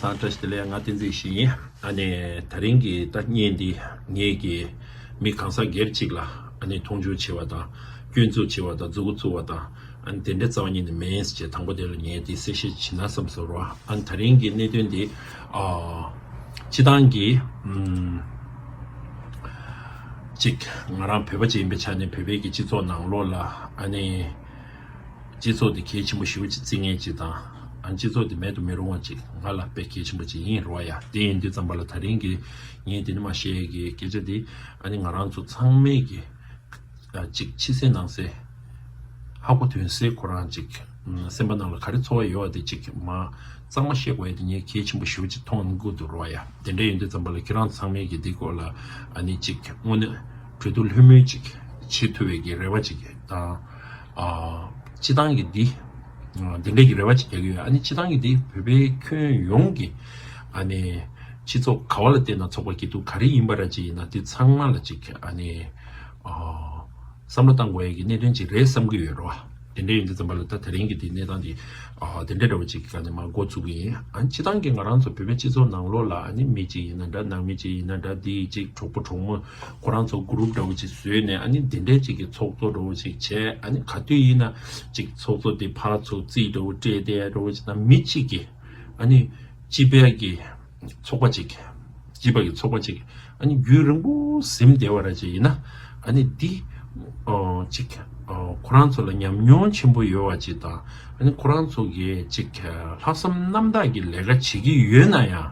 ད་ལྟ་དེ་ལས་ང་ཏིང་འཛིན་བཞིན་ཡིན། ཨ་ནེ། ད་རིང་གི་ལྟ་རྙེད་འདི་ངེད་ཀྱི་མི་གང་ཟག་སྒེར་གཅིག་ལ་ཨ་ནེ་མཐོང་ཆུང་བྱེད་བ་དང་སྐྱོན་འཛུགས་བྱེད་བ་དང་རྫུ་གུ་བཙུགས་བ་དང་ཨ་ནེ་དེ་འདྲའི་རྩ་བ་ཉིད་ནས་མིན་ཅེས་དང་པོ་དེ་ལ་ངས་དེ་གསལ་བཤད་བྱིན་ན་བསམ་ཟེར་རོ། ཨ་ནེ་ད་རིང་གི་གནད་དོན་འདི་སྤྱི་བཏང་གི། གཅིག་ང་རང་བོད་པ་ཅིག་ཡིན་པའི་ཆ་ནས་བོད་པའི་གི་སྤྱི་ཚོགས་ནང་ལོགས་ལ་ཨ་ནེ། སྤྱི་ཚོགས་འདི་གལ་ཆེན་པོ་ཞིག་རེད་ཅེས་རྩིས་ངན་ཅིག་དང། ཨང་སྤྱི་ཚོགས་འདི་མེད་དུ་མི་རུང་བ་ཅིག་ང་ལ་དཔེ་གལ་ཆེན་པོ་ཅིག་ཡིན་རོགས་ཡ་དེ་ཡིན་དུས་ཙམ་པ་ལ་ད་རིང་གི་ངས་དེ་འདྲ་མ་བཤད་གི་སྐད་ཆ་འདི་ཨ་ནི་ང་རང་ཚོ་ཚང་མས་གི་ཅིག་ཕྱི་གསལ་ནང་གསལ་ཧ་གོ་དོན་གསལ་ཁོ་རང་ཅིག་སེམས་པ་ནང་ལ་ག་རེ་འཚོ་བ་ཡོད་བ་དེ་ཅིག་མ་གཙང་མ་བཤད་དགོས་ཡ་དེ་ངས་གལ་ཆེན་པོ་ཞུ་བ་ཅིག་མཐོང་ནི་གུ་འདུག་རོགས་ཡ་དེ་འདྲ་ཡིན་དུས་ཙམ་པ་ལ་ཁྱེད་རང་ཚང་མས་གི་འདི་སྐོར་ལ་ཨ་ནི་ཅིག་དངོས་གནས་གྲོས་བསྡུར་ལྷོད་མོལ་ཅིག་བྱེད་ཐུབ་བའི་གི་རེ་བ་ཅིག་དང། སྤྱི་བཏང་གི་འདི། དེ་འདྲས་ཀྱི་རེ་བ་ཅིག་རྒྱག་གི་ཡོད། ཨ་ནི་སྤྱི་བཏང་གི་འདི་བོད་པའི་ཁྱོན་ཡོངས་ཀྱི། ཨ་ནི། སྤྱི་ཚོགས་ག་བ་ལ་བལྟས་ན་ཚོགས་པ་སྐྱིད་སྡུག་ག་རེ་ཡིན་པ་ར་ཅིག་ཡིན་ན་འདི་ཚང་མ་ལ་ཅིག་ཨ་ནི། བསམ་བློ་བཏང་དགོས་ཡ་གི་གནད་དོན་ཅིག་རེད་བསམ་གི་ཡོད་རོ། དེ་འདྲས་ཡོད་འདི་ཙམ་པ་ལ་ད་དེ་རིང་གི་འདི་གནས་སྟངས་འདི། དེ་འདྲས་འདྲ་བ་ཅིག་གི་ཨ་ནི་མ་འགོ་ཚུགས་གི་ཡིན། ཨ་ནི་སྤྱི་བཏང་གི་ང་རང་ཚོ་བོད་པའི་སྤྱི་ཚོགས་ནང་ལོགས་ལ་ཨ་ནི་མི་ཅིག་ཡིན་ན་འདྲ་ནང་མི་ཅིག་ཡིན་ན་འདྲ་འདི་ཅིག་གྲོགས་པོ་གྲོགས་མོ། ཁོ་རང་ཚོ group འདྲ་བོ་ཅིག་བཟོས་ནས་ཨ་ནི་འདི་འདྲའི་ཅིག་གི་ཚོགས་གཙོ་འདྲ་བོ་ཅིག་བྱས་ཨ་ནི་ག་དུས་ཡིན་ན་ཅིག་ཚོགས་གཙོ་དེ་ཕར་ཚུར་རྩིས་འདྲ་བོ་སྤྲད་དེ་འདྲ་བོ་ཅིག་དང་མི་གཅིག་གིས་ཨ་ནི་སྤྱི་ཕལ་གྱི་ཚོགས་པ་ཅིག་སྤྱི་པ་གི་ཚོགས་པ་ཅིག་ཨ་ནི་རྒྱུད་རིང་པོ་གཟིམ་བདེ་བ་ར་ཅིག་ཡིན་ན་ཨ་ནི་འདི་ཅིག་ཁོ་རང་ཚོ་ལ་ཉམས་མྱོང་ཆེན་པོ་ཡོད་བ་ཅིག་དང་ཨ་ནི་ཁོ་རང་ཚོ་གིས་ཅིག་ལྷག་བསམ་རྣམ་དག་གི་ལས་ཀ་བྱེད་ཀྱི་ཡོད་ན་ཡང།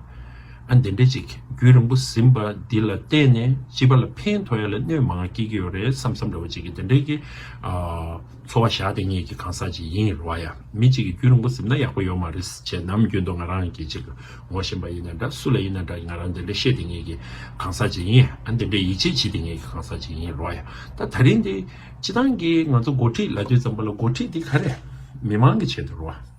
ཨ་འདི་འདྲའི་ཅིག་རྒྱུད་རིང་པོ་ཟིན་པ་འདི་ལ་བལྟས་ནས་སྤྱི་པ་ལ་ཕན་ཐོགས་ཡ་ལ་གནོད་མང་སྐྱེས་ཀྱི་ཡོད་རེད་བསམ་བསམ་འདྲ་བོ་ཅིག་གི་འདི་འདྲའི་གི་འཚོ་བ་ཞག་དེ་ངེད་ཀྱི་གང་ཟག་ཅིག་ཡིན་རོགས་ཡ་མི་ཅིག་གི་རྒྱུད་རིང་པོ་ཟིན་ན་ཡག་པོ་ཡོད་མ་རེད་བྱས་ནམ་རྒྱུན་དུ་ང་རང་གི་ཅིག་ངོ་བཞིན་པ་ཡིན་ན་འདྲ་སུ་ལ་ཡིན་ན་འདྲ་ང་རང་འདི་འདྲ་ཤེས་དེ་ངེད་ཀྱི་གང་ཟག་ཅིག་ཡིན་ཨ་འདི་འདྲའི་ཡིད་ཆེས་བྱེད་དེ་ངེད་ཀྱི་གང་ཟག་ཅིག་ཡིན་རོགས་ཡ་ད་ད་རིང་འདི་སྤྱི་བཏང་གི་ང་ཚོ་འགོ་ཁྲིད་ལ་དུས་ཙམ་པོ་ལ་འགོ་ཁྲིད་འདི་ག་རེ་མི་མང་གི་ཆེད་དུ་རོགས།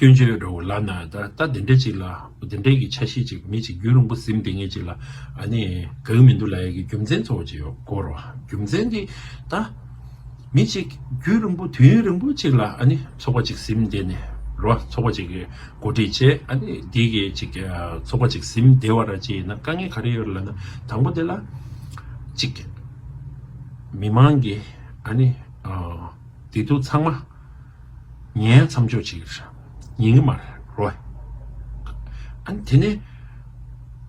སྐྱོན་བརྗོད་རོགས་ལགས་ན་ད་ལྟ་དེ་འདྲས་ཅིག་ལ་དེ་འདྲས་ཀྱི་ཆ་ཤས་ཅིག་མེད་ཅིག་རྒྱུན་རིང་པོ་གཟིམ་དེ་ངེས་ཅིག་ལ་ཨ་ནི་གང་མི་འདུག་ལ་ཡ་གི་རྒྱུ་མཚན་གཙོ་བོ་ཅིག་ཡོད་དགོས་རོགས་རྒྱུ་མཚན་དེ་ད་མི་ཅིག་རྒྱུན་རིང་པོ་དུས་ཡུན་རིང་པོ་ཅིག་ལ་ཨ་ནི་ཚོགས་པ་ཅིག་གཟིམ་དེ་ནི་རོ་ཚོགས་པ་ཅིག་གི་འགོ་ཁྲིད་བྱས་ཨ་ནི་དེ་གི་ཅིག་ཚོགས་པ་ཅིག་གཟིམ་དེ་བ་ར་ཅིག་ཡིན་ན་དཀའ་ངལ་ག་རེ་ཡོད་རེད་ལ་ན་དང་པོ་དེ་ལ་ཅིག་མི་མང་གི་ཨ་ནི་བདེ་སྡུག་ཚང་མ། ངའི་མཚམས་འཇོག་བྱེད་ཀྱི་རེད། ཡིན་གྱི་མ་རེད། རོ། ཨ། དེ་ནས།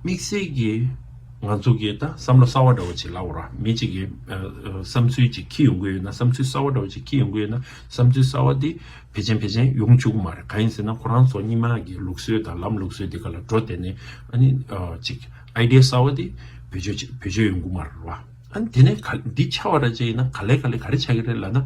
དམིགས་བསལ་གྱིས། ང་ཚོ་གིས་ད་བསམ་བློ་གསར་བ་འདྲ་བོ་ཞིག་ལབ་རོགས། མི་གཅིག་གིས། བསམ་ཚུལ་ཅིག་ཁྱི་ཡོང་གི་ཡོད་ན་བསམ་ཚུལ་གསར་བ་འདྲ་བོ་ཞིག་ཁྱི་ཡོང་གི་ཡོད་ན། བསམ་ཚུལ་གསར་བ་དེ། བེད་ཅན་བེད་ཅན་ཡོང་བཅུག་གི་མ་རེད་གང་ཡིན་ཟེར་ན་ཁོ་རང་ཚོ་གཉིས་མ་གི་ལུགས་སྲོལ་དང་ལམ་ལུགས་སྲོལ་དེ་ག་ལ་འགྲོ་དེ་ནས། ཨ་ནི། ཅིག། Idea། གསར་བ་དེ། བེད་སྤྱོད་བྱེད་བེད་སྤྱོད་ཡོང་གི་མ་རེད་རོ། ཨ་ནི་དེ་ནས་ག་འདི་ཆ་བ་རེད་ཅེ་ཡིན་ན་ག་ལས་ག་ལས་ག་རེ་ཆ་གི་རེད་ལབ་ན།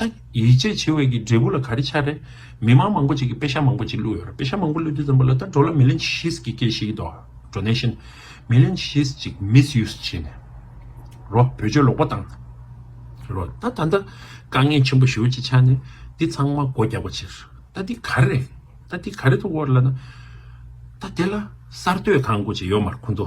ཨ། ཡིད་ཆེས་ཆེ་བས་ཀྱི་འབྲས་བུ་ལ་ག་རེ་ཆགས་རེད། མི་དམངས་མང་པོ་ཅིག་གིས་དཔེ་ཆ་མང་པོ་ཅིག་བླུས་ཡོད་རེད་དཔེ་ཆ་མང་པོ་བླུས་ཏེ་འཛོམས་པ་ལ་ད་འགྲོ་ལ་མི་ལན་ཤིས་ཀྱིས་སྐད་ཤིག་དོ Donation མི་ལན་ཤིས་ཅིག Misuse བྱས་ནས་རོ་བོད་ཆོལ་ལོག་པ་དང། རོ། ད་ད་ལྟ་དཀའ་ངལ་ཆེན་པོ་ཞིག་ཆགས་ནས་འདི་ཚང་མ་སྒོ་རྒྱག་པ་ཕྱིར་ད་འདི་ག་རེ་རེད། ད་འདི་ག་རེ་ཐུག་འོ་ལ་ན། ད་དེ་ལ་གསར་གཏོད་གང་དགོས་ཅིག་ཡོད་མར་ཁུ་མདོ།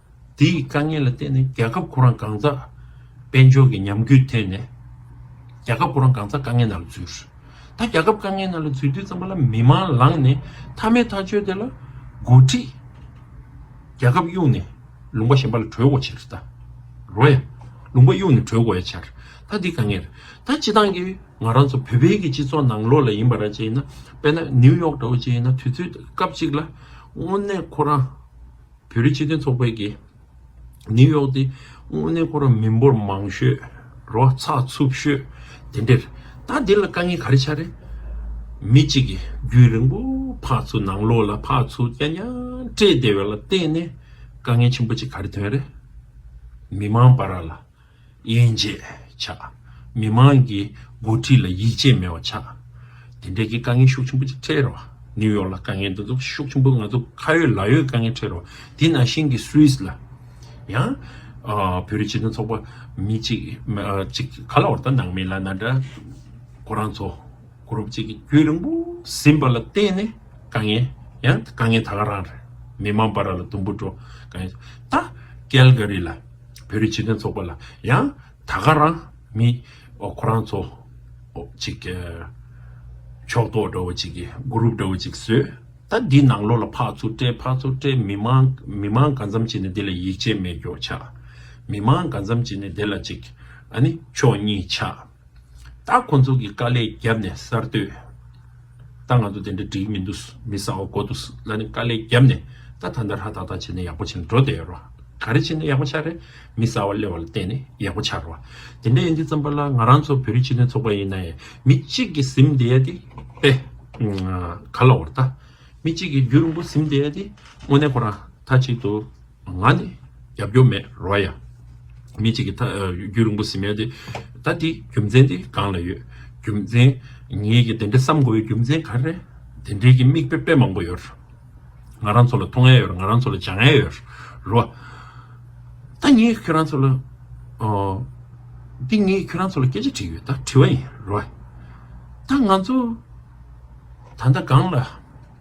དེའི་དཀའ་ངལ་ལ་བརྟེན་ནས་རྒྱལ་ཁབ་ཁོ་རང་གང་ཟག་དཔལ་འབྱོར་གྱི་ཉམས་རྒུད་ཐོན་ནས། རྒྱལ་ཁབ་ཁོ་རང་གང་ཟག་དཀའ་ངལ་ནང་ལ་འཛུལ། ད་རྒྱལ་ཁབ་དཀའ་ངལ་ནང་ལ་འཛུལ་དུས་ཙམ་པོ་ལ་མི་དམངས་ལངས་ནས་མཐའ་མེད་ཐག་ཆོད་དེ་ལ་འགོ་ཁྲིད། རྒྱལ་ཁབ་གཡུགས་ནས་ལུང་པ་གཞན་པ་ལ་གྲོས་འགོ་བྱེད་རེད་ད། རོ་ཡ། ལུང་པ་གཡུགས་ནས་གྲོས་འགོ་ཡ་བྱ་རེད་ད་དེ་དཀའ་ངལ་རེད་ད། སྤྱི་བཏང་གིས་ང་རང་ཚོ་བོད་བལ་གྱི་སྤྱི་ཚོགས་ནང་ལོགས་ལ་ཡིན་པ་ར་བཅས་ཡིན་ན་དཔེར་ན་ནིའུ་ཡོག་འདྲ་བོ་བཅས་ཡིན་ན་དུས་ཚོད་སྐབས་གཅིག་ལ་དངོས་གནས་ཁོ་རང་བོད་རིགས་སྤྱི་མཐུན་ཚོགས་པའི་གིས་ནིའུ་ཡོག་ཏི་དངོས་གནས་ཁོ་རང་མི་འབོར་མང་ཤོས་རོ་ཚགས་ཚུབ་ཤོས་དེ་འདྲེར་ད་འདི་ལ་དཀའ་ངལ་ག་རེ་ཆགས་རེད། མི་གཅིག་གིས་རྒྱུས་རིང་པོ་འཕགས་ཚུ་ནང་ལོག་ལ་འཕགས་ཚུ་སྐྱ་ཉག་སྤྲད་བསྡད་པ་ལ་བརྟེན་ནས་དཀའ་ངལ་ཆེན་པོ་གཅིག་ག་རེ་ཐོན་རེད། མི་མང་པ་ར་ལ་དབྱེ་འབྱེད་བྱ། མི་མང་གི་འགོ་ཁྲིད་ལ་ཡིད་ཆེས་མེད་པ་བྱ། དེ་འབྲེལ་གྱི་དཀའ་ངལ་ཤུགས་ཆེན་པོ་ཅིག་འཕྲད་རོགས། ནིའུ་ཡོག་ལ་དཀའ་ངལ་འདི་ཚོ་ཤུགས་ཆེན་པོ་ང་ཚོ་ཁ་ཡོད་ལག་ཡོད་དཀའ་ངལ་འཕྲད་རོགས་དེ་ནང་བཞིན་གྱི Swiss ལ་ཡང། བོད་རིགས་སྤྱི་མཐུན་ཚོགས་པ་མི་གཅིག་གཅིག་ག་ལ་བར་ད་ནང་མི་ལ་ན་འདྲ་ཁོ་རང་ཚོ Group གཅིག་གི་རྒྱུད་རིང་པོ་ཟིན་པ་ལ་བརྟེན་ནས་དཀའ་ངལ་ཡང་དཀའ་ངལ་ད་ག་རང་རེད་མི་མང་པ་ར་ལ་དུམ་བུ་འགྲོ་དཀའ་ངལ་ད Calgary ལ། བོད་རིགས་ཆེད་དོན་ཚོགས་པ་ལ་ཡང་ད་ག་རང་མི་ཁོ་རང་ཚོ་ཅིག་ཕྱོགས་གཏོགས་འདྲ་བོ་ཅིག་གི Group འདྲ་བོ་ཅིག་བཟོས་ད་འདི་ནང་ལོགས་ལ་ཕག་ཚུར་སྤྲད་ཕག་ཚུར་སྤྲད་མི་མང་མི་མང་ག་འཚམ་ཅིག་ནས་འདི་ལ་ཡིད་ཆེས་མེད་མགྱོགས་ཆགས་མི་མང་ག་འཚམ་ཅིག་ནས་འདི་ལ་ཅིག་ཨ་ནི་ཕྱོགས་གཉིས་ཆགས། ད་ཁོ་ཚོ་གི་དཀའ་ལས་རྒྱབ་ནས་གསར་གཏོད། ད་ང་ཚོ་དེ་འདྲ་འགྲིག་མི་འདུག་མི་ཟ་བ་གོ་འདུག་ལ་ནི་དཀའ་ལས་རྒྱབ་ནས་ད་ད་འདར་ཧ་ཏག་ཏག་བྱེད་ནས་ཡག་པོ་བྱེད་ནས་འགྲོ་བསྡད་རོགས་ག་རེ་བྱེད་ནས་ཡག་པོ་ཆགས་རེད་མི་ཟ་བ་གླེ་བ་ལ་བརྟེན་ནས་ཡག་པོ་ཆགས་རོགས་དེ་འདྲ་ཡིན་དུས་བརྩམས་པ་ལ་ང་རང་ཚོ་བོད་རིགས་སྤྱི་མཐུན་ཚོགས་པ་ཡིན་ན་ཡང་མི་གཅིག་གི་གཟིམ་བསྡད་ཡ་དེ་དཔེ་ག་ལ་བོར་ད་མི་གཅིག་གི་རྒྱུ་རིང་པོ་གཟིམ་བསྡད་ཡ་དེ་དངོས་གནས་ཁོ་རང་མཐའ་གཅིག་ཏུ། ང་ནི་རྒྱབ་སྐྱོར་མེད་རོ་ཡ། མི་གཅིག་གིས་རྒྱུད་རིང་པོ་ཟིན་མེད་དེ། ད་འདི་རྒྱུ་མཚན་འདི་གང་ལ་ཡོད། རྒྱུ་མཚན། ངེད་ཀྱིས་དེ་འདྲ་བསམ་དགོས་པའི་རྒྱུ་མཚན་ག་རེ། དེ་འདྲའི་གི་མིག་དཔེ་དཔེ་མང་པོ་ཡོད། ང་རང་ཚོ་ལ་ཐོག་ངན་ཡོད་ང་རང་ཚོ་ལ་བྱ་ངན་ཡོད་རོ། ད་ངེད་ཁྱོད་རང་ཚོ་ལ། འདི་ངེད་ཁྱོད་རང་ཚོ་ལ་སྐད་ཆ་དྲིས་ཡོད་ད་དྲི་བ་ཡིན་རོ། ད་ང་ཚོ། ད་ལྟ་གང་ལ།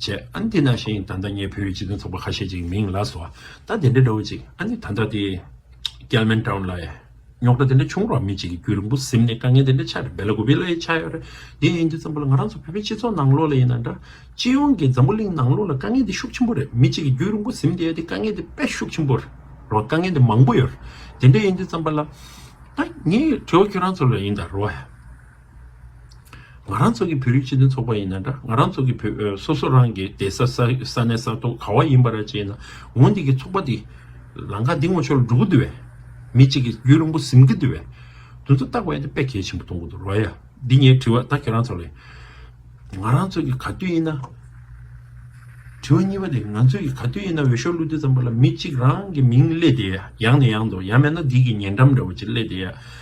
བྱས། ཨ་ནི་དེ་ནང་བཞིན་ད་ལྟ་ངས་བོད་ཡིག་སྤྱི་དོན་ཚོགས་པ་ཁ་ཤས་ཅིག་མིང་ལ་བཟོ། ད་དེ་འདྲའི་འདྲ་བོ་ཅིག་ཨ་ནི་ད་ལྟ་དེ། ཀལ་མན་ཀྲའུ་ལ། རྙོག་དྲ་དེ་འདྲ་བྱུང་རོགས་མི་གཅིག་གི་རྒྱུད་རིང་པོ་གཟིམ་ནས་དཀའ་ངལ་དེ་འདྲ་ཆགས་རེད་བེ་ལ་གུ་བེ་ལ་ཡི་ཆགས་ཡོད་རེད། དེ་ཡིན་དུས་ཙམ་པོ་ལ་ང་རང་ཚོ་བོད་པའི་སྤྱི་ཚོགས་ནང་ལོགས་ལ་ཡིན་ན་འདྲ། སྤྱི་ཡོངས་ཀྱི་འཛམ་བུ་གླིང་ནང་ལོགས་ལ་དཀའ་ངལ་དེ་ཤུགས་ཆེན་པོ་རེད་མི་གཅིག་གི་རྒྱུད་རིང་པོ་གཟིམ་བསྡད་དེ་དཀའ་ངལ་དེ་དཔེ་ཤུགས་ཆེན་པོ་རེད་རོགས་དཀའ་ངལ་དེ་མང་པོ་ཡོད་རེད་དེ་འདྲ་ཡིན་དུས་ཙམ་པོ་ལ། ད་ངས་བྲེལ་བ་ཁྱོད་རང་ཚོ་ལ་ཡིན་ད་རོགས། ང་རང་ཚོ་གི་བོད་རིགས་སྤྱི་མཐུན་ཚོགས་པ་ཡིན་ན་འདྲ་ང་རང་ཚོ་གི་བོད་སོ་སོ་རང་གི་སྡེ་ས་ས་གནས་ས་ཐོག་ག་བ་ཡིན་པ་ར་བྱེད་ན་འོ་འདི་གི་ཚོགས་པ་འདི་ལང་ཀ་འདི་ངོ་ཆོ་ལ་འགྲོ་གི་འདུ་བས་མི་གཅིག་གི་རྒྱུད་རིང་པོ་ཟིན་གི་འདུ་བས་དུ་ཚོ་བཏགས་པ་ཡ་དེ་དཔེ་གལ་ཆེན་པོ་གཏོང་གི་འདུག་རོ་ཡ་འདི་ངའི་དྲི་བ་ད་ཁྱེད་རང་ཚོ་ལས་ང་རང་ཚོ་གི་ག་དུས་ཡིན་ན། དྲི་བ་གཉིས་པ་དེ་ང་ཚོ་གི་ག་དུས་ཡིན་ན་འོས་ཤོག་བླུག་དུས་ཙམ་པ་ལ་མི་གཅིག་རང་གི་མིང་གླེད་དེ་ཡ་ཡང་ནས་ཡང་དུ་ཡ་མེད་ན་འདི་གི་ཉེ་འགྲམ་འདྲ་བ་ཅིག་གླེད་དེ་ཡ།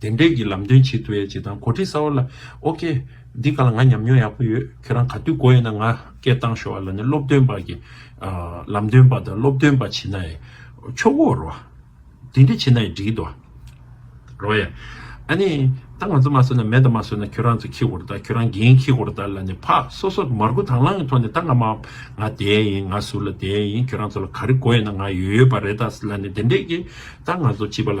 བདེན་འབྲས་ཀྱི་ལམ་སྟོན་བྱེད་ཐུབ་ཡ་བྱེད་དང་གོ་ཁྲིད་གསར་བ་ལ་ཨོ་ཀེ། འདི་ག་ལ་ང་ཉམས་མྱོང་ཡག་པོ་ཡོད་ཁྱོད་རང་ག་དུས་གོ་ཡོད་ན་ང་སྐད་བཏང་ཤོག་ཨ་ལ་ནི་སློབ་སྟོན་པ་གི་ལམ་སྟོན་པ་དང་སློབ་སྟོན་པ་བྱེད་ན་ཡི་ཆོག་གོ་རོ། དེ་འདྲ་བྱེད་ན་ཡི་འགྲིག་དོ། རོ་ཡ། ཨ་ནི། ད་ང་ཚོ་མ་བཟོད་ན་མེད་ད་མ་བཟོད་ན་ཁྱོད་རང་ཚོ་ཁྱི་གོར་ད་ཁྱོད་རང་རྒན་ཁྱི་གོར་ད་ལ་ནི་ཕག་སོ་སོ་མར་ཁུ་དང་བླངས་གི་ཐོག་ནས་ད་ང་མ་ང་དེ་ཡིན་ང་ཟུར་ལ་དེ་ཡིན་ཁྱོད་རང་ཚོ་ལ་ག་རེ་གོ་ཡོད་ན་ང་ཡོད་ཡོད་པ་རེད་ད་ལ་ནི་བདེན་འབྲས་ཀྱི་ད་ང་ཚོ་བྱིས་པ་ལ།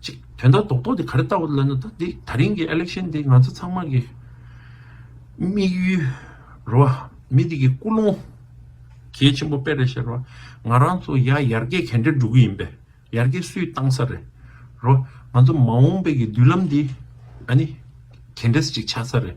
ཅིག་དོན་དག་རྡོག་རྡོག་འདི་ག་རེ་ལྟ་བ་ལ་ན་ད་དེ་ད་རིང་གི election འདི་ང་ཚོ་ཚང་མ་གི་དམིགས་ཡུལ་རེད་བ་མི་དེ་གི་སྐུ་རླུང་གལ་ཆེན་པོ་དཔེ་རེད་ཤེས་རེད་བ་ང་རང་ཚོ་ཡ་ཡར་རྒྱས་གན་འདྲེ་འགྲོ་གི་ཡིན་པས་ཡར་རྒྱས་སུས་བཏང་ས་རེད་རེད་བ་ང་ཚོ་མ་འོངས་པའི་གི་མདུན་ལམ་འདི་ཨ་ནི་གན་འདྲེས་ཅིག་ཆགས་ས་རེད།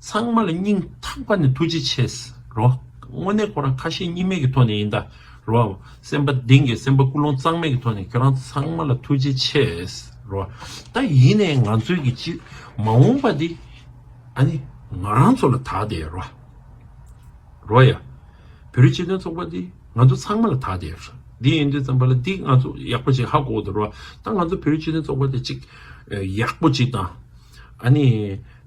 ཚང་མ་ལ་སྙིང་ཐག་པ་ནས་ཐུགས་རྗེ་ཆེ་ཟེར་རོ། དངོས་གནས་ཁོ་རང་ཁ་ཞེ་གཉིས་མེད་ཀྱི་ཐོག་ནས་ཡིན་ད་རོ། སེམས་པ་གདེང་གི་སེམས་པ་ཀུན་སློང་གཙང་མེད་ཀྱི་ཐོག་ནས་ཁྱོད་རང་ཚང་མ་ལ་ཐུགས་རྗེ་ཆེ་ཟེར་རོ། ད་ཡིན་ནས་ང་ཚོའི་གི་སྤྱི་མ་འོངས་པ་འདི་ཨ་ནི་ང་རང་ཚོ་ལ་དག་དེ་རོ། རོ་ཡ། བོད་རིགས་སྤྱི་མཐུན་ཚོགས་པ་འདི་ང་ཚོ་ཚང་མ་ལ་དག་དེ་རོ། འདི་ཡིན་དུས་ཙམ་པ་ལ་འདི་ང་ཚོ་ཡག་པོ་ཅིག་ཧ་གོ་དེ་རོ། ད་ང་ཚོ་བོད་རིགས་སྤྱི་མཐུན་ཚོགས་པ་དེ་ཅིག་ཡག་པོ་ཅིག་དང་ཨ་ནི།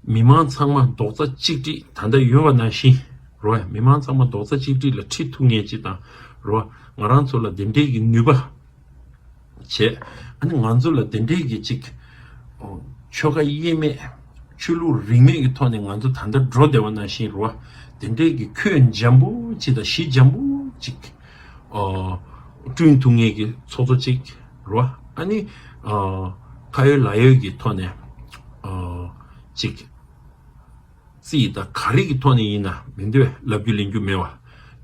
མི་མང་ཚང་མ་རྡོག་རྩ་གཅིག་སྒྲིག་ད་ལྟ་ཡོད་བ་ནང་བཞིན་རོ། མི་མང་ཚང་མ་རྡོག་རྩ་གཅིག་སྒྲིག་ལ་ཁྲིད་ཐུབ་ངེས་ཅིག་དང་རོ། ང་རང་ཚོ་ལ་དེ་འབྲེལ་གྱི་ནུས་པ་བྱེད། ཨ་ནི་ང་ཚོ་ལ་དེ་འབྲེལ་གྱི་གཅིག། ཆོལ་ཁ་དབྱེ་མེད། ཆོས་ལུགས་རིས་མེད་ཀྱི་ཐོག་ནས་ང་ཚོ་ད་ལྟ་འགྲོ་བདེ་བ་ནང་བཞིན་རོ། དེ་འབྲེལ་གྱི་ཁྱོན་འཇམ་པོ་གཅིག་དང་གཞི་འཇམ་པོ་གཅིག། བསྐྲུན་ཐུབ་ངེས་ཀྱི་ཚོགས་གཙོ་གཅིག། རོ། ཨ་ནི། ཁ་ཡོད་ལག་ཡོད་ཀྱི་ཐོག་ནས། ཅིག། རྩིས་དང་ག་རིགས་ཀྱི་ཐོག་ནས་ཡིན་ན་མི་འདོད་ལབ་རྒྱུ་ལེན་རྒྱུ་མེད་བ།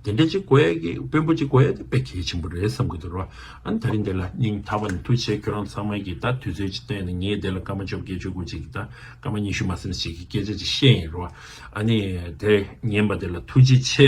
དེ་འདྲ་ཅིག་གོ་ཡ་གི་དཔོན་པོ་ཅིག་གོ་ཡ་དེ་དཔེ་གལ་ཆེན་པོ་རེད་བསམ་གི་འདུག་རོ། ཨ་ནི་ད་རིང་དེ་ལ་སྙིང་ཐག་པ་ནས་ཐུགས་ཆེ་ཁྱོད་རང་ཚང་མ་གིས་ད་དུས་ཚོད་ཅིག་བཏོན་ནས་ངས་དེ་ལ་སྐར་མ་བཅོ་བརྒྱད་བཅོ་དགུ་ཅིག་གིས་ད་སྐར་མ་ཉི་ཤུ་མ་སེམས་ཤིག་གི་སྐད་ཆ་ཅིག་བཤད་ཡིན་རོ། ཨ་ནི། དེ་ངན་པ་དེ་ལ་ཐུགས་རྗེ་ཆེ།